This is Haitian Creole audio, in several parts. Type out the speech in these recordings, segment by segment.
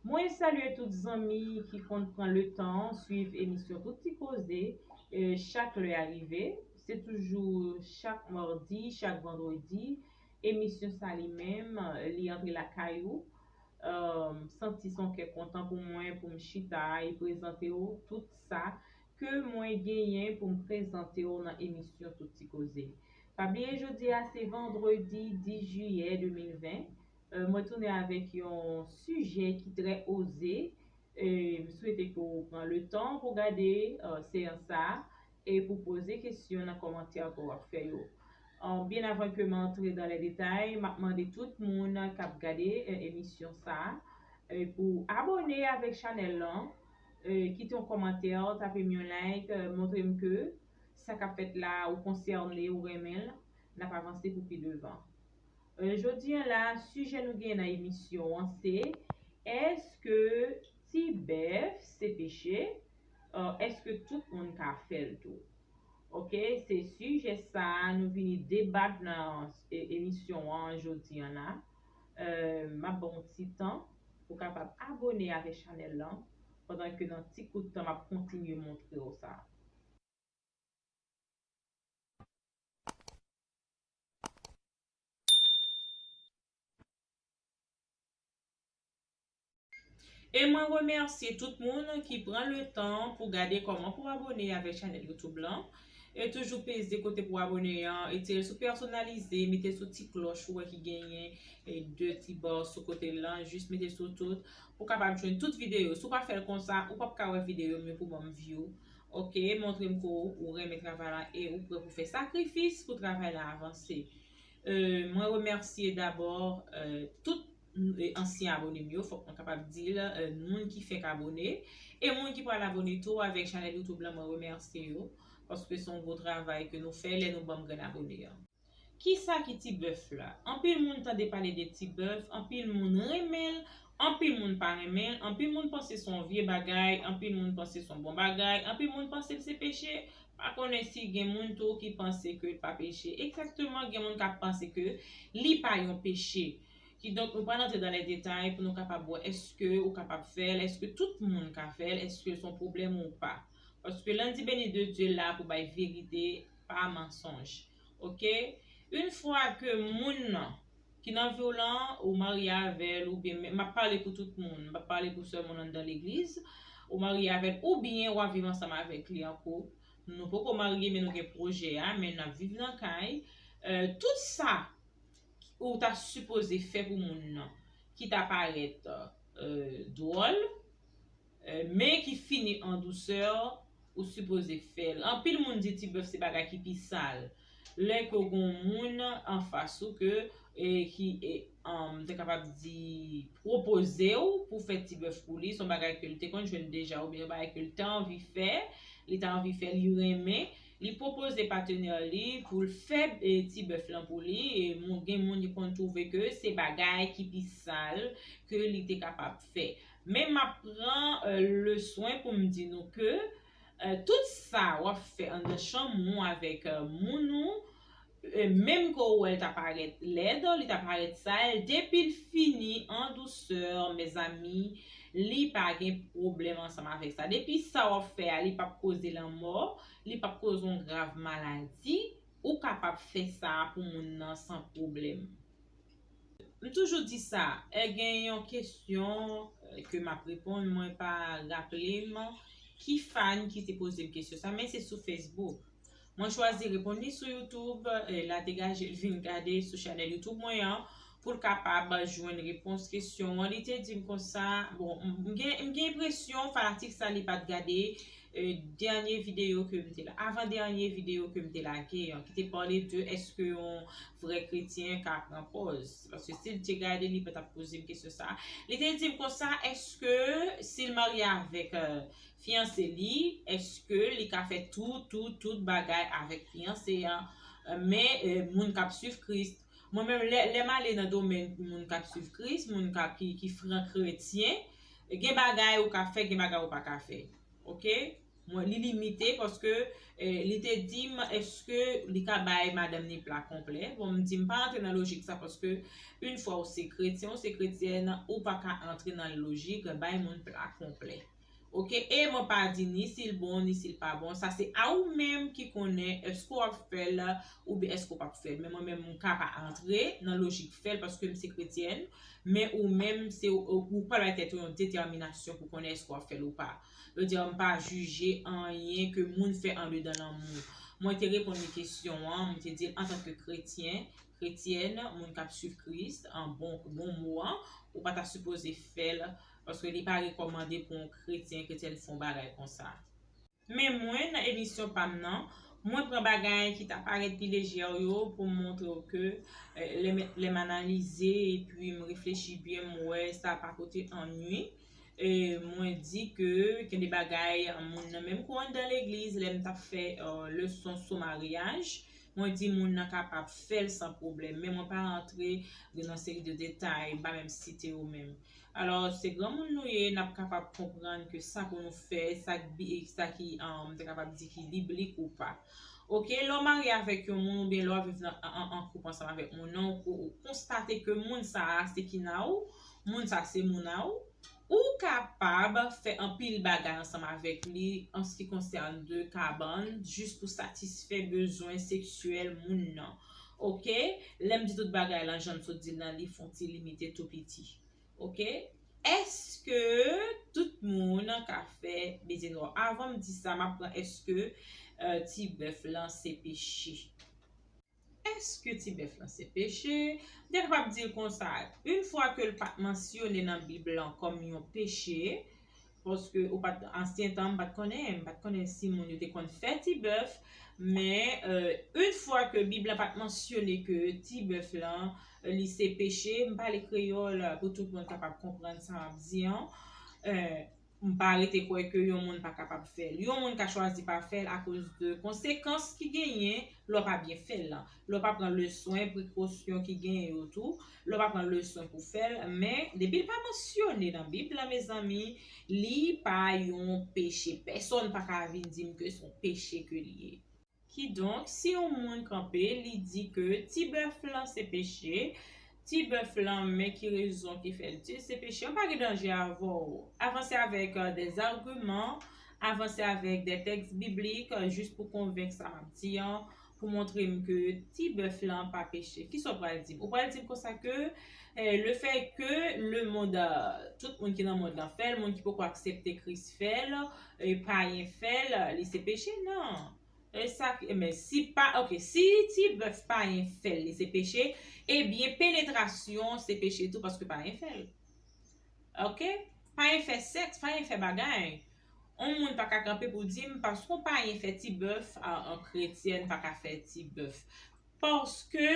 Mwen salye tout zanmi ki konn pran le tan swiv emisyon tout ti koze chak lè a rive se toujou chak mardi chak vandredi emisyon sa li menm li antre lakay ou m santi son kè kontan pou mwen pou m chita e prezante w tout sa ke mwen genyen pou m prezante w nan emisyon tout ti koze pa bliye jodi a se vandredi 10 jiyè 2020 Mwen tounen avèk yon sijè ki trè oze, m swete ke w pran le tan pou gade seyans sa a e pou poze kesyon nan kòmantè ke w ap fè yo. Byen avan ke m antre dan lè detay, m ap mande tout moun k ap gade emisyon sa a pou abòne avèk chanèl lan, kite yon kòmantè, tape m yon like, montre m ke sa k ap fèt la a ou konsène, ou renmen l, n ap avanse pou pi devan. Jodi an la a sijè nou genyen nan emisyon an se, Èske ti bèf se peche? Èske tout moun ka fè l tou? Ok, se sijè sa a nou vini debat nan emisyon an jodi an la. M ap ba w yon ti tan pou w kapab abone avè chanèl lan pandan ke nan ti kout tan m ap kontinye montre w sa. E mwen remèsye tout moun ki pran le tan pou gade kòman pou abone avèk chanèl YouTube lan. E toujou peze kote pou abone an, e tire sou pèsonalize, mete sou ti klòch ou wè ki genyen e de ti ba sou kote lan, jis mete sou tout pou kapab jwenn tout videyo. Si w pa fè l konsa, ou pap ka wè videyo m yo pou banm view. Ok montrem ke ou renmen travay la e ou prè pou fè sakrifis pou travay la avanse Mwen remèsye dabò tout ansyen abone m yo fòk mwen kapab di l moun ki fèk abone e moun ki pral abone tou avèk chanèl youtube lan mwen remèsye yo paske son gwo travay ke nou fè lè nou banm grenn abone an. Kisa ki ti bèf la? Anpil moun tande pale de ti bèf, anpil moun renmen l, anpil moun pa renmen l, anpil moun panse son vye bagay, anpil moun panse son bon bagay, anpil moun panse l se peche, pa konnen si gen moun tou ki panse ke l pa peche. Ekzakteman gen moun k ap panse ke li pa yon peche. Kidonk nou pral antre dan lè detay pou nou kapab wè eske ou kapab fè l, eske tout moun ka fè l, eske l son pwoblèm ou pa. Paske Lundi Béni de Dieu la pou bay verite pa mansonj ok yn fwa ke moun nan ki nan viw lan ou marye avèl oubyen map pale pou tout moun m pap pale pou sèl moun anndan legliz ou marye avèl oubyen wap viv ansanm avèk li an koup nou poko marye men nou gen pwojè a men nap viv nan kay tout sa ou ta sipoze fè pou moun nan ki ta parèt dwòl. Men ki fini an dousè ou sipoze fèl anpil moun di ti bèf se bagay ki pi sal lè ke w gon moun anfas ou ke ki m ta kapab di pwopoze w pou fè ti bèf pou li son bagay ke l te konn jwenn deja oubyen yon bagay ke l ta anvi fè li ta anvi fè li renmen li pwopoze patenè li pou l fè ti bèf lan pou li gen moun ki konn twouve ke se bagay ki pi sal ke li te kapab fè. Men map pran le swen pou m di nou ke tout sa wap fè andan chanm ou avèk moun ou menm ke ou wèl ta parèt lèd li ta parèt sal depil fini an douceur mezanmi li pa gen pwoblèm ansanm avèk sa depi sa wap fè a li pap koze lanmò li pap koze yon grav maladi ou kapab fè sa pou moun nan san pwoblèm. M toujou di sa, è gen yon kesyon ke m ap reponn mwen pa raple m ki fan ki te poze m kesyon sa men se sou Facebook. Mwen chwazi reponn li sou YouTube, e la degaje l vin gade sou chanèl YouTube mwen an pou l kapab jwenn repons kesyon an. Li te di m konsa, bon m gen enpresyon fanatik sa li pa t gade dènye videyo ke m te la, avan dènye videyo ke m te lage an, ki te pale de eske yon vrè kretyen ka pran pòz. Paske si l te gade li pa t ap poze m kesyon sa a. Li te di m konsa eske si l marye avèk fiyanse li, eske li ka fè tout tout tout bagay avèk fiyanse an, men moun k ap swiv Kris, Mwen menm lè lèm ale nan domèn moun kap swiv Kris, moun kap ki ki fran kretyen, gen bagay ou ka fè gen bagay ou paka fè ok mwen li limite paske li te dim eske li ka bay madanm ni pla konplè bon m di m pa antre nan lojik sa paske yn fwa ou se kretyen ou se kretyèn ou paka antre nan lojik bay moun pla konplè Ok e mwen pa di ni sil bon ni sil pa bon sa se a ou menm ki konnen eske w ap fèl oubyen eske w pap fèl men mwen menm m ka pa antre nan lojik fèl paske m se kretyèn men ou menm se ou pral bay tèt ou yon detèminasyon pou konnen eske w ap fèl ou pa yo di m pa jije anyen ke moun fè andedan lanmou mwen te reponn li kesyon an m te dil antanke kretyen kretyèn moun k ap swiv kris an bon bon mou an ou pa ta sipoze fèl Paske li pa rekòmande pou yon kretyen kretyèn fon bagay konsa. Men mwen, nan emisyon pa m nan, mwen pran bagay ki ta parèt pi lejè w yo pou m montre w ke lè m analize epi m reflechi byen m wè sa pa pote annwi. Mwen di ke gen de bagay moun nan menm kou anndan legliz lè m t ap fè leson sou maryaj mwen di moun nan kapab fè l san pwoblèm men mwen pa rantre nan seri de detay m pa menm site yo menm. Alò, se granmoun nou ye, n ap kapab konprann ke sa pou nou fè, sa k bi, sa ki, m ta kapab di ki biblik ou pa. Oke, lè w marye avèk yon moun oubyen lè w ap viv nan, an, an koup ansanm avèk moun nan, ou, ou konstate ke moun sa a se kina ou, moun sa a se mouna ou, ou kapab fè anpil bagay ansanm avèk li an s ki konsène de kabann jis pou satisfè bezwen seksyèl moun nan. Ok lèm di tout bagay lan janm sot dil lan li fon ti limite tou piti ok eske tout moun ka fè beze nò avanm di sa map pran eske ti bèf lan se peche eske ti bèf lan se peche m ta kapab dil konsa yn fwa kel pat mansyone nan bib lan kòm yon peche Paske ou pat ansyen tan m pat konnen, m pat konnen si moun yo te konn fè ti bèf, men une fwa ke bib la pat mansyone ke ti bèf lan li se peche, m pale kreyòl pou tout moun kapab konprann sa map di an, m pa rete kwè ke yon moun pa kapab fè l. Yon moun ka chwazi pa fè l akoz de konsekans ki genyen lè w pa byen fè l lan. Lè w pa pran le swen, prekosyon ki genyen yo tou. Lè w pa pran leson pou fè l, men, depi l pa mansyone nan Bib la mezanmi, li pa yon peche. Pèsonn pa ka vin di m ke s on peche ke li ye. Kidonk, si yon moun kanpe, li di ke ti bèf lan se peche, ti bèf lan, men ki rezon ki fè l di l se peche, m pa gen danje avè w. Avanse avèk dè zagiman, avanse avèk dè tèks biblik, jis pou konvenk sa m ap di an, pou montre m ke ti bèf lan pa peche. Kisa w pral di m? Ou pral di m konsa ke le fè ke le mond, tout moun ki nan mond lan fè l, moun ki poko aksepte Kris fè l, payen fè l, li se peche? Non. E sa ki, men si pa, ok, si ti bèf payen fè l, li se peche, ebyen penetrasyon se peche tou paske payen fè l. Ok? Payen fè sèks, payen fè bagay. On moun pa ka kanpe pou di m paske on payen fè ti bèf a on kretyèn pa ka fè ti bèf paske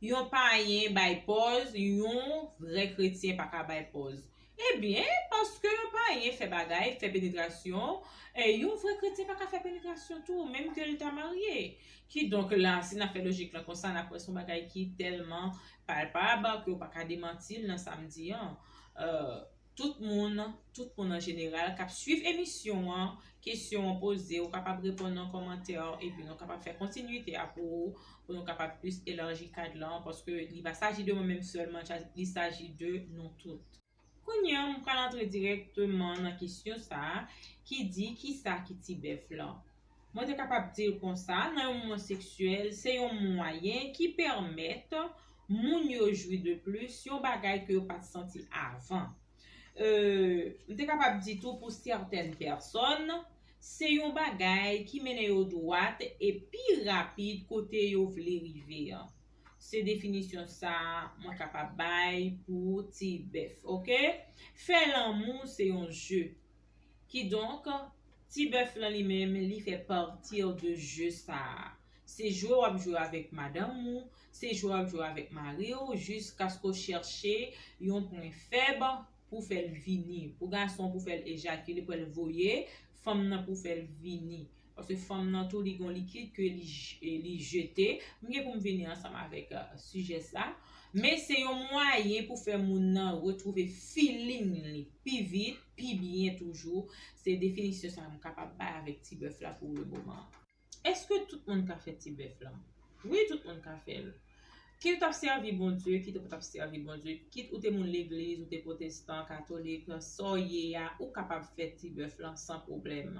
yon payen bay pòz yon vrè kretyen pa ka bay pòz e byen paske yon payen fè bagay fè penetrasyon e yon vrè kretyen pa ka fè penetrasyon tou menm ke l ta marye kidonk la si n ap fè lojik lan konsa n ap wè se yon bagay ki tèlman palpab ke ou pa ka demanti l nan sa m di an. Tout moun, tout moun an jeneral k ap suiv emisyon an, kesyon an poze, ou kapab reponn nan kòmantè yo epi nou kapab fè kontinwite a pou ou, pou nou kapab plis elarji kad lan, paske li pa saji de mwen menm sèlman, li saji de nou tout. Kounye an, m pral antre dirèkteman nan kesyon sa a ki di, Kisa ki tibèf lan? Mwen te kapab di l konsa, nan yon moman seksyèl, se yon mwayen ki pèmèt moun yo jwi de plis, yon bagay ke yo pa t santi avan. M te kapab di tou pou sètèn pèsòn, se yon bagay ki mennen yo dwat e pi rapid kote yo vle rive an. Se definisyon sa mwen kapab bay pou ti bèf. Ok. Fè lanmou se yon je. Kidonk, ti bèf lan li menm li fè parti de je sa a. Se jwe w ap jwe avèk madanm ou, se jwe w ap jwe avèk mari w jiskaske w chèche yon pwen fèb pou fè l vini. Pou gason pou fè l ejakile pou l voye fanm nan pou fè l vini. Paske fanm nan tou li gon likid ke li jete. M gen pou m vini ansanm avèk sijè sa. Men se yon mwayen pou fè moun nan retwouve feeling li pi vit, pi byen toujou. Se definisyon sa m kapab bay avèk ti bèf la pou le moman. Eske tout moun ka fè ti bèf lan? Wi tout moun ka fè l. Kit ou t ap sèvi Bondye, kit ou pa t ap sèvi Bondye, kit ou te moun legliz, ou te pwotestan, katolik, sa w ye a, ou kapab fè ti bèf lan san pwoblèm.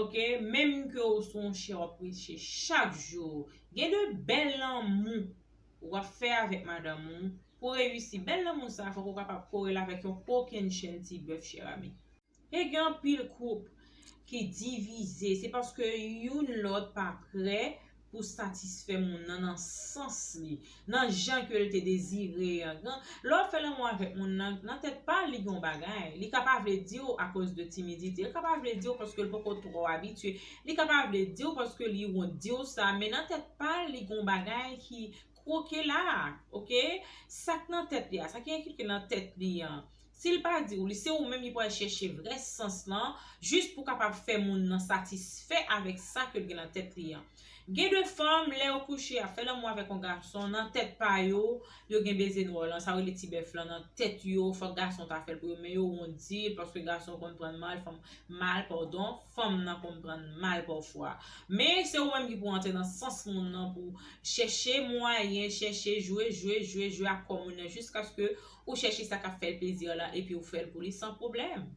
Ok, menm ke ou sou yon chè w ap preche chak jou, gen de bèl lanmou w ap fè avèk madanm ou, pou reyisi. Bèl lanmou sa a fòk ou kapab kore l avèk yon kokennchenn ti bèf chèramin. He gen anpil koup ki divize se paske youn lòt pa prè pou satisfè moun nan nan sans li, nan jan ke l te dezire an kan lè w fè lanmou avèk moun nan nan tèt pa l li gen yon bagay li ka pa vle di w akoz de timidite li ka pa vle di w paske l poko twò abitye li ka pa vle di w paske li wont di w sa men nan tèt pa l li gen yon bagay ki Kwoke la a ok sak nan tèt li a sa ki enkrike nan tèt li an sil pa di ou li se ou menm li pral chèche vrè sans lan jis pou kapab fè moun nan satisfè avèk sa ke l gen nan tèt li an gen de fanm lè yo kouche yap fè lanmou avèk yon gason nan tèt pa yo yo gen beze nwòl lan sa yo rele ti bèf lan nan tèt yo fòk gason ta fè l pou yo men yo wont di l paske gason konn prann mal fanm mal pardon fanm nan konn prann mal pafwa men se ou menm ki pou antre nan sans moun nan pou Chèche mwayen, chèche jwe, jwe, jwe, jwe ak kò moun nan jiskaske ou chèche sa k ap fè l plezi an lan epi ou fè l pou li san pwoblèm.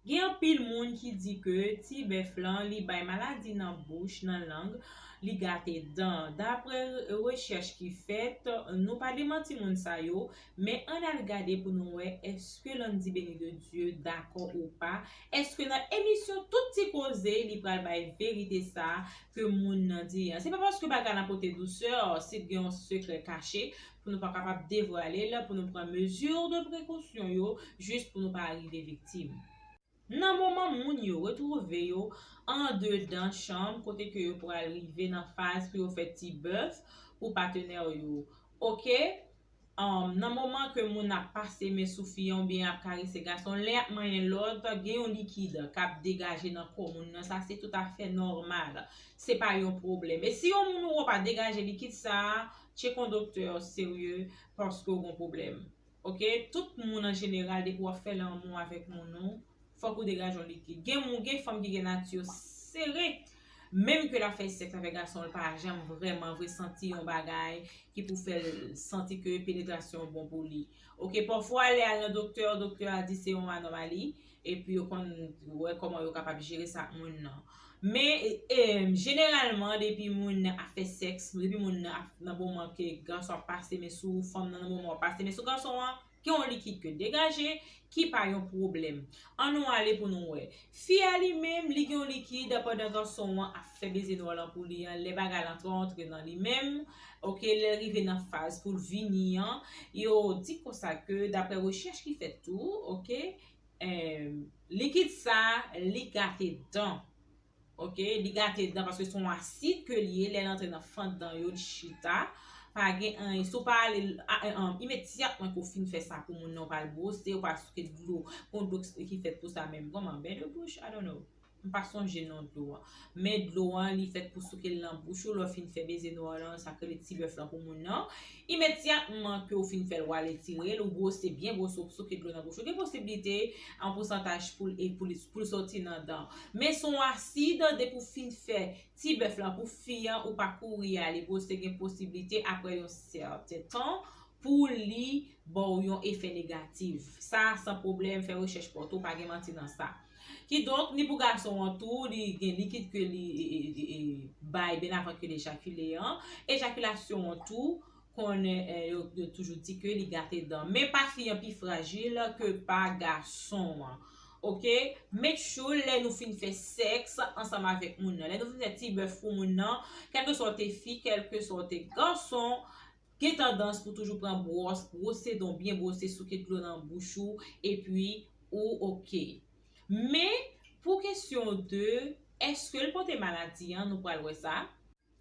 Gen anpil moun ki di ke ti bèf lan li bay maladi nan bouch, nan lang, li gate dan. Dapre rechèch ki fèt, nou pa demanti moun sa yo, Men ann al gade pou nou wè eske Landy Beni de Dieu dakò ou pa, eske nan emisyon tout ti koze li pral bay verite sa ke moun nan di an. Se pa paske bagay la pote douceur, si t gen yon sekrè kache pou nou pa kapab devwale l, pou nou pran mesure de prekosyon yo jis pou nou pa rive viktim. Nan moman moun yo retwouve yo andedan chanm kote ke yo pral rive nan faz pou yo fè ti bèf pou patenè yo ok humm nan moman ke moun ap pase men sou fi an oubyen ap karese gason lè yap manyen lòt gen yon likid kap degaje nan kò moun nan sa se tout afè nòmal se pa yon pwoblèm e si yon moun ou wè pa degaje likid sa tchek yon doktè serye paske ou gon pwoblèm. ok tout moun an jeneral depi wap fè lanmou avèk moun ou fòk ou degaj yon likid gen moun gen fanm ki gen nati yo sere menm ke lap fè sèks avèk gasonl pa janm vrèman vre santi yon bagay ki pou fèl santi ke penetrasyon bon pou li ok pafwa lè al nan doktè doktè a di se yon anòmali e pou yo konn wè kòman yo kapab jere sa ak moun nan men jeneralman depi moun nan ap fè sèks depi moun nan ap nan moman ke gason ap pase men sou fanm nan nan moman wap pase men sou gason an gen yon likid ke degaje ki pa yon pwoblèm an nou ale pou nou wè fi a li menm li gen yon likid pandan gason an ap fè beze nò lan pou li an lè bagay lan trò antre nan li menm ok lèl rive nan faz poul vini an yo di konsa ke daprè rechèch ki fèt tou ok. Likid sa li gate dan Ok li gate dan paske son asid ke li ye lèl antre nan fant dan yo li chita pa gen anyen si w pa ale imedyatman ke w fin fè sa pou moun nan w pa al bwose w pa souke dlo pou sa menm kòman bèy de bouch I don't know. M pa sonje non dlo an. Men dlo an li fèt pou souke l nan bouch ou lè w fin fè beze nou an lan, sa k rele ti bèf lan pou moun nan. Imedyatman ke w fin fè l w al etire l, ou bwose byen bwose w souke dlo nan bouch ou. Gen posiblite an pousantaj pou l e pou li pou l soti nan dan. Men s on asid, depi w fin fè ti bèf lan pou fi an ou pa kouri ale bwose gen posiblite aprè yon sèten tan pou li ba w yon efè negatif. Sa san pwoblèm fè rechèch pa w tou pa gen manti nan sa. Kidonk, ni pou gason an tou, li gen likid ke li bay byen avan ke l ejakile an. Ejakilasyon an tou, konnen yo toujou di ke li gate dan. Men pa fi an pi frajil ke pa gason an. Ok, met tchoul lè nou fin fè sèks ansanm avèk moun nan. Lè nou fin fè ti bèf pou moun nan, kèlkeswa w te fi, kèlkeswa w te gason, Gen tandans pou toujou pran bwòs bwose don byen bwose souke dlo nan bouch ou epi ou ok. Men pou kesyon de eske l pote maladi an nou pral wè sa.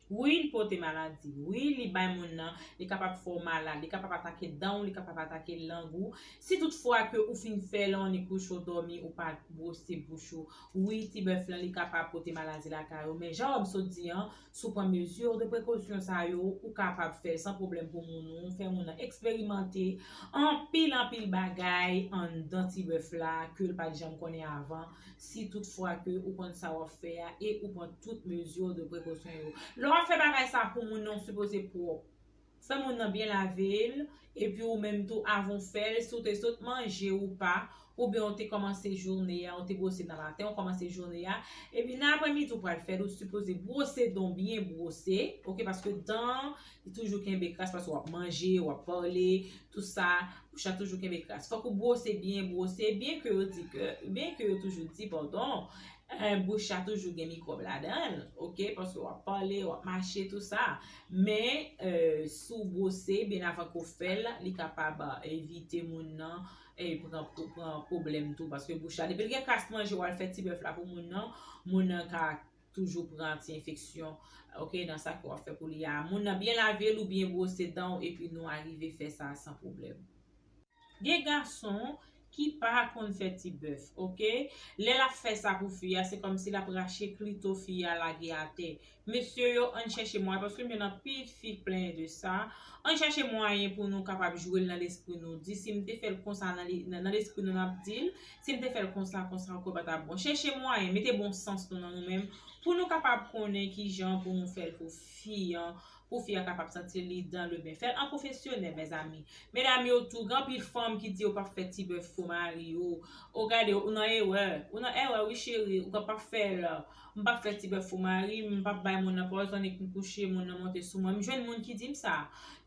Wi li pote maladi. Wi li bay moun nan, li kapab fè w malad, li kapab atake dan w, li kapab atake lang ou. Si tout fwa ke ou fin fè lawonnik kouche w dòmi ou pa bwose bouch ou, wi ti bèf lan li kapab pote maladi lakay ou men jan wè m sot di an, Si w pran mezi de prekosyon sa yo, ou kapab fè l san pwoblèm pou moun ou, fè moun nan eksperimante anpil anpil bagay anndan ti bèf la ke l pa t janm konnen avan, si tout fwa ke ou konn sa w ap fè a e ou pran tout mezi de prekosyon yo. Lè w ap fè bagay sa pou moun nan, ou sipoze pwòp. Fè moun nan byen lavel epi ou menm tou avanw fèl si ou te sot manje ou pa oubyen ou te kòmanse joune a ou te bwose nan maten ou kòmanse joune a epi nan aprè midi ou pral fèl ou sipoze bwose dan w byen bwose ok paske dan an li toujou kenbe kras paske wap manje wap pale tout sa bouch la toujou kenbe kras fòk ou bwose byen bwose byen ke yo di ke byen ke yo toujou di padon bouch la toujou gen mikwòb ladanl ok paske wap pale wap mache tout sa. Men, si w bwose byen avan ke w fè l, li kapab evite moun nan pran pwoblèm tou. Paske bouch la, depi l gen kras manje w al fè ti bèf la pou moun nan, moun nan ka toujou pran ti enfeksyon nan sa ke w ap fè pou li a. Moun nan byen lave l ou byen bwose dan w epi nou arive fè sa san pwoblèm. Gen gason ki pa konn fè ti bèf ok lè lap fè sa pou fi a se kòmsi lap rache klito fi a lage atè mesye yo ann chèche mwayen paske m jwenn anpil fi k plenyen de sa ann chèche mwayen pou nou kapab jwe l nan lespri nou di si m te fè l konsa nan lespri nou nap di l si m te fè l konsa konsa ou kwè pa tap bon chèche mwayen mete bon sans nou nan nou menm pou nou kapab konnen kijan pou nou fè l pou fi an Pou fi an kapab santi li dan le ben fèl an pwofesyonèl mezanmi medam yo tou gen anpil fanm ki di yo pap fè ti bèf pou mari yo oh gade ou nan erè ou nan erè wi cheri ou ka pap fèl m pap fè ti bèf pou mari m m pap bay moun nan pòzon ni k m kouche moun nan monte sou mwen m jwenn moun ki di m sa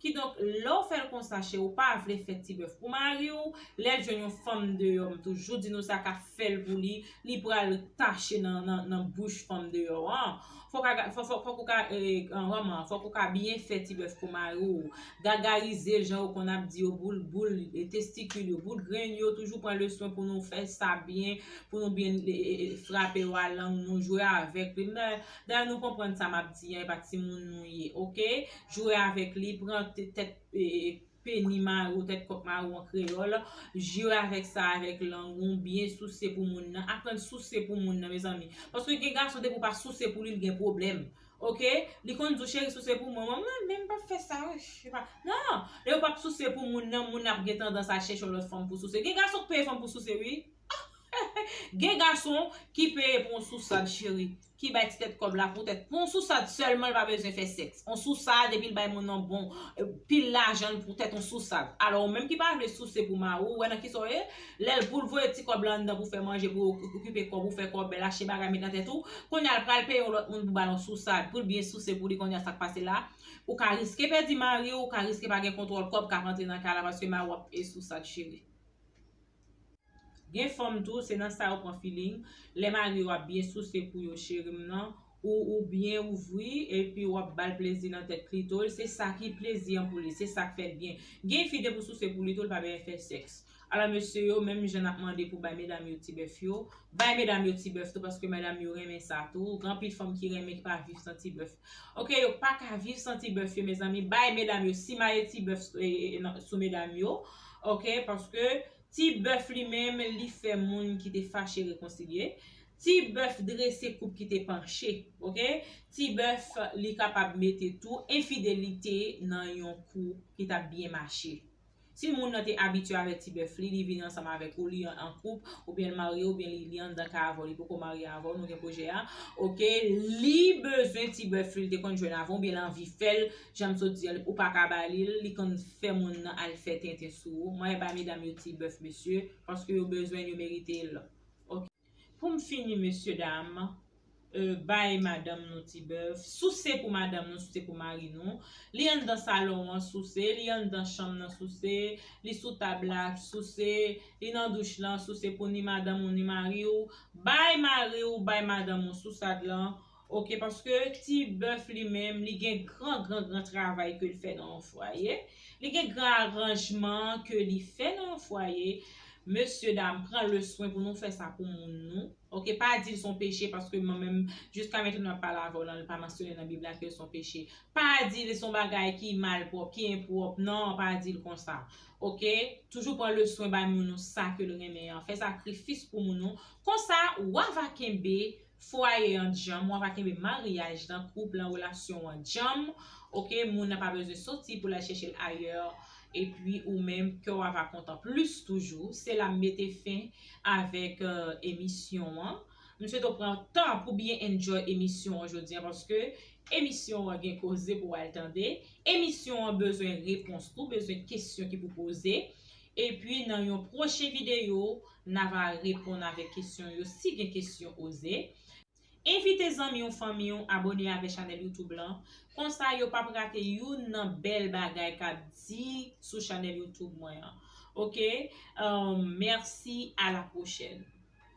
kidonk lè w fèl konsa cheri w pa vle fè ti bèf pou mari w lèl jwenn yon fanm deyò m toujou di nou sa ka fèl pou li li pral tache nan nan nan bouch fanm deyò an Fòk a ga fò fòk ou ka ee manman fòk ou ka byen fè ti bèf pou mari w gagarize l jan yo konn ap di yo boul boul e testikil yo boul grenn yo toujou pran le swen pou nou fè sa byen pou nou byen ee frape yo a lang nou jwe avèk li mè dayè nou konprann sa m ap di an e pa timoun nou ye ok jwe avèk li pran te tèt ee Peni maro, tèt kòk maro an kreyòl, Jwe avèk sa avèk lang ou, byen souse pou moun nan, aprann souse pou moun nan mezanmi, paske gen gason depi w pa souse pou li li gen pwoblèm ok, li konn di w cheri souse pou mwen, mwen menm m pap fè sa nan, lè ou pap souse pou moun nan moun nan ap gen tandans al chèche yon lòt fanm pou souse, gen gason k peye fanm pou souse wi, gen gason ki peye pou yon sousad cheri. ki bay ti tèt kòb la pou tèt pou yon sousad sèlman li pa bezwen fè sèks yon sousad epi li bay moun nan bon pil lajan pou tèt yon sousad alò ou menm ki pa vle souse pou mari w ou wè nan kisa w ye lè l pou l voye ti kòb la anndan pou fè manje pou okipe kò pou fè kòbèl achte bagay met nan tèt ou kounye a l pral peye yon lòt moun pou ba l yon sousad pou l byen souse pou li kounye a sa k pase la ou ka riske pèdi mari w ou ka riske pa gen kontwòl kòb k ap antre nan kay la paske mari w ap sousad cheri. Gen fanm tou se nan sa yo pran feeling lè mari yo ap byen souse pou yo cheri m nan ou ou byen ouvri epi wap bal plezi nan tèt klito l se sa ki plezi an pou li se sak fèl byen gen yn fi depi w souse pou li tou l pa bèen fè sèks alò mesye yo menm jan nap mande pou bay medam yo ti bèf yo bay medam yo ti bèf tou paske medam yo renmen sa tou gen anpil fanm ki renmen ki pa viv san ti bèf. Ok yo paka viv san ti bèf yo mezanmi bay medam yo simaye ti bèf sou medam yo ok paske ti bèf li menm li fè moun ki te fache rekonsilye ti bèf drese koup ki te panche ok ti bèf li kapab mete tou enfidelite nan yon koup ki tap byen mache. Si moun nan te abitye avèk ti bèf li, li vin ansanm avèk ou, li an koup, oubyen l marye oubyen li li anndan ka avè w, li poko marye avè w, nou gen pwojè a, ok, li bezwen ti bèf li l te konn jwenn avan w oubyen l anvi fè l, jan m sot di a, ou pa ka ba li l, li konn fè moun nan al fè tenten sou ou, mwen bay medam yo ti bèf mesye, paske yo bezwen l, yo merite l, ok. Pou m fini mesye dam, euh bay madanm nou ti bèf, souse pou madanm nou, souse pou mari nou, li anndan salon an souse, li anndan chanm nan souse, li sou tab la souse, li nan douch lan souse pou ni madanm ou ni mari ou, bay mari ou, bay madanm ou sousad lan, Ok paske ti bèf li menm li gen gran gran gran travay ke l fè nan yon fwaye, li gen gran aranjman ke li fè nan yon fwaye, mesye dam pran le swen pou nou fè sa pou moun nou, ok pa di l son peche paske mwen menm jiska metèm nan pale avè w lan li pa mansyone nan bib la ke l son peche, pa di l son bagay ki malpwòp ki enpwòp nan pa di l konsa ok, toujou pran le swen bay moun nou sa ke l renmen an, fè sakrifis pou moun nou, konsa wa va kenbe. fwaye an djanm wap a kenbe maryaj lan koup lan relasyon an djanm ok moun nan pa bezwen soti pou lal chèchel ayè epi ou menm kèw ava kontan plis toujou se la m mete fen avèk emisyon an m swete w pran tan pou byen enjoy emisyon an jodi an paske emisyon an gen koze pou wal tande emisyon an bezwen repons tou bezwen kesyon ki pou poze Epi nan yon pwochen videyo na va reponn avèk kesyon yo si gen kesyon oze Envite zanmi w fanmi w abone avè chanèl youtube lan konsa yo pap rate youn nan bèl bagay kap di sou chanèl youtube mwen an ok Mèsi a la pwochèn.